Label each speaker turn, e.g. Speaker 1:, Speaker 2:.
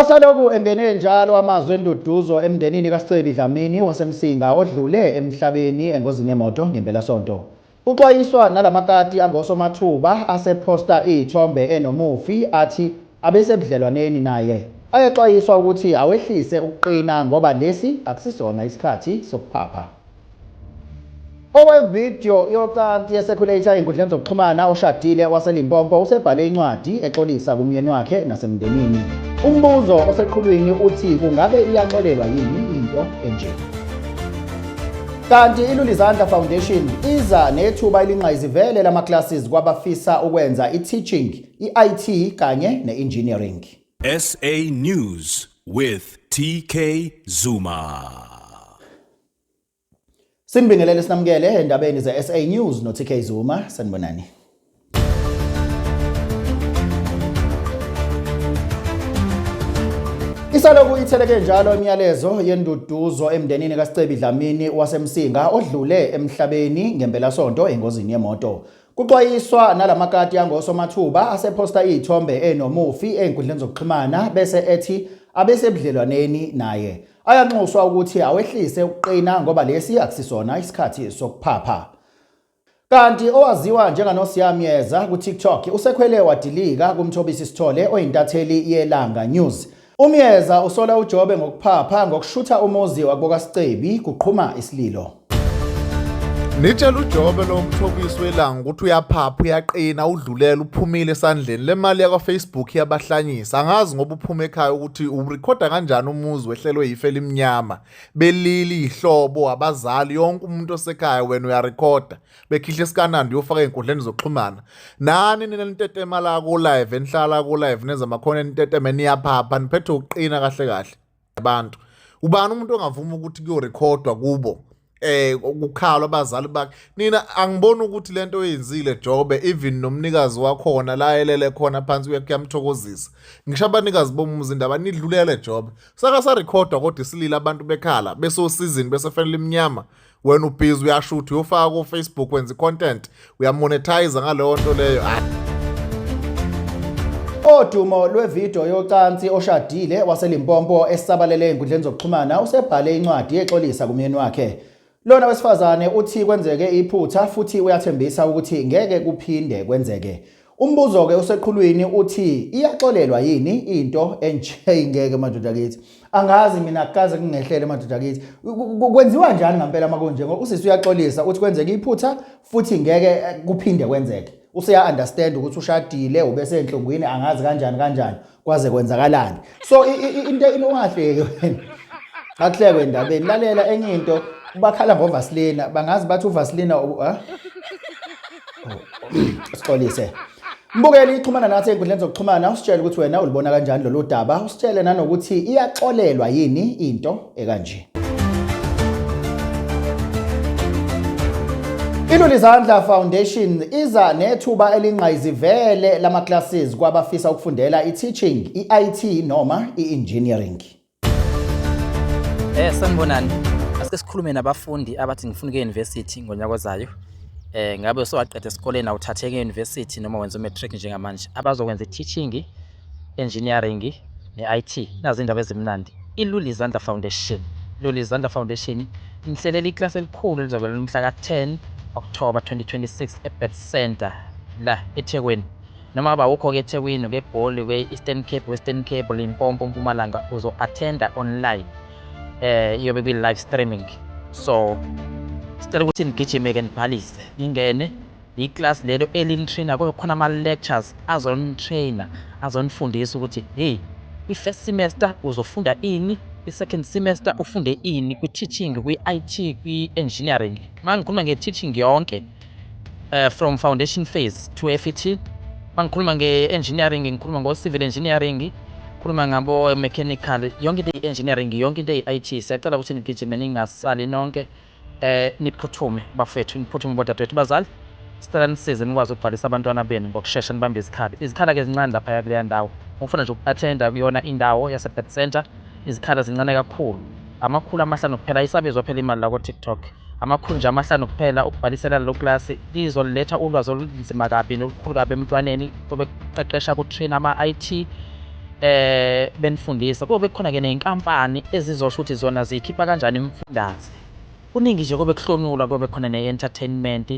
Speaker 1: Asalokhu engene njalo amazwi enduduzo emndenini kaScebi Dlamini waseMsinga odlule emhlabeni engozini yemoto ngempelasonto. Kuxwayiswa nalamakati angosomathuba asephosta iy'thombe enomufi athi abesebudlelwaneni naye. Ayaxwayiswa ukuthi awehlise ukuqina ngoba lesi akusisona isikhathi sokuphapha. Owevidiyo yocansi yesekhuleyitha ezinkundleni zokuxhumana oshadile waseLimpopo usebhale incwadi exolisa kumyeni wakhe nasemndenini. Umbuzo oseqhulwini uthi kungabe iyaxolelwa yini into enje? Kanti iLulizandla Foundation iza nethuba elinqayizivele lama-classes kwabafisa ukwenza i-teaching, i-IT kanye ne-engineering. SA
Speaker 2: News with TK Zuma.
Speaker 1: Sinibingelele sinamukele endabeni ze-SA News no-TK Zuma sanibonani. Isaloku itheleke njalo imiyalezo yenduduzo emndenini kaScebi Dlamini waseMsinga odlule emhlabeni ngempelasonto engozini yemoto. Kuxwayiswa nalamakati angosomathuba asephosta izithombe enomufi ezinkundleni zokuxhumana bese ethi abesebudlelwaneni naye. Ayanxuswa ukuthi awehlise ukuqina ngoba lesi akusisona isikhathi sokuphapha. Kanti owaziwa njenganosiyamyeza ku-TikTok usekhwele wadilika kuMthobisi Sithole oyintatheli yeLanga News. UMyeza usola uJobe ngokuphapha ngokushutha umuzi wakubokasicebi kuqhuma isililo.
Speaker 3: Nitshela uJobe lo mthobisi welanga ukuthi uyaphapha uyaqina udlulela uphumile esandleni le mali yakwa-Facebook iyabahlanyisa angazi ngoba uphuma ekhaya ukuthi urekhoda kanjani umuzi wehlelwe yife elimnyama belili yihlobo abazali yonke umuntu osekhaya wena uyarekhoda bekhihla isikanandi uyofaka ey'nkundleni zokuxhumana nani nina nitetema la ku-live enihlala ku-live nenza amakhona eniteteme niyaphapha niphethe ukuqina kahle kahle abantu ubani umuntu ongavuma ukuthi kuyorekhodwa kubo eh ukukhala abazali bakhe nina angiboni ukuthi lento oyenzile Jobe even nomnikazi wakhona la elele khona phansi uyakuyamthokozisa ngisho abanikazi bomuzi indaba nidlulele Jobe saka sa recorder kodwa isilila abantu bekhala besosizini besefanele iminyama wena ubhizi uyashutha uyofaka kofacebook wenza i-content uyamonetize ngaleyo nto leyo
Speaker 1: Odumo lwevideo yocansi oshadile waselimpompo esisabalele enkundleni zokuxhumana usebhale incwadi exolisa kumyeni wakhe. Lona wesifazane uthi kwenzeke iphutha futhi uyathembisa ukuthi ngeke kuphinde kwenzeke. Umbuzo-ke oseqhulwini uthi iyaxolelwa yini into enje ingeke madoda kithi. Angazi mina kukaze kungehlele madoda kithi. Kwenziwa njani ngempela uma kunje ngoba usisi uyaxolisa uthi kwenzeke iphutha futhi ngeke eh, kuphinde kwenzeke. Useya understand ukuthi ushadile ubesenhlungwini angazi kanjani kanjani. kwaze kwenzakalani so i- i- i- into inongahleki wena akuhlekwe endabeni lalela enye into bakhala ngovasilina bangazi bathi uvasilina u- ah? sixolise mbukeli ixhumana nathi ey'nkundleni zokuxhumana usitshele ukuthi wena ulibona kanjani lolu daba usitshele nanokuthi iyaxolelwa yini into ekanje. Ilulizandla Foundation iza nethuba elingqayizivele lama classes kwabafisa ukufundela i-teaching, i-IT noma i-engineering.
Speaker 4: Eh sanibonani. Asike sikhulume nabafundi abathi ngifuna ke university ngonyaka ozayo. Eh ngabe sowaqeda esikoleni awuthatheke university noma wenza matric njengamanje. Abazokwenza i-teaching Enjiniyaringi ne-IT. Nazi iy'ndaba ezimnandi. I-Lulizandla Foundation, Lulizandla Foundation, inihlelela ikilasi elikhulu elizobe lilumhla ka-10 Okthoba 2026 eBirth Centre la eThekwini. Noma ngabe awukho-ke eThekwini, ukeGoli, uke-Eastern Cape, Western Cape, Limpopo, Mpumalanga, uzo-attenda online. Eh, iyobe kwi-live streaming. So, sicela ukuthi nigijime-ke nibhalise, ningene. I class lelo elini trainer kube khona ama lectures azoni trainer azonifundisa ukuthi hey i first semester uzofunda ini i second semester ufunde ini kwi teaching kwi IT kwi engineering mangikhuluma nge teaching yonke uh, from foundation phase to FET mangikhuluma nge engineering ngikhuluma ngo civil engineering khuluma ngabo mechanical yonke into engineering yonke into eyi IT siyacela ukuthi nigijime ningasali nonke Eh niphuthume bafethu niphuthume bodadewethu bazali sicela nisize nikwazi ukubhalisa abantwana benu ngokushesha nibambe izikhala izikhala ke zincane laphaya kuleya ndawo ngokufuna nje uku-athenda kuyona indawo yase-birth centre izikhala zincane kakhulu amakhulu amahlanu kuphela ayisabizwa phela imali la ko-tiktok amakhulu nje amahlanu kuphela ukubhalisela lelo klasi lizoliletha ulwazi olunzima kabi nolukhulu kabi emntwaneni obekuqeqesha kutrain ama-it benifundisa kobe kukhona ke ney'nkampani ezizosho ukuthi zona ziyikhipha kanjani imifundaze. Kuningi nje kobe kuhlonulwa kobe khona ne-entertainment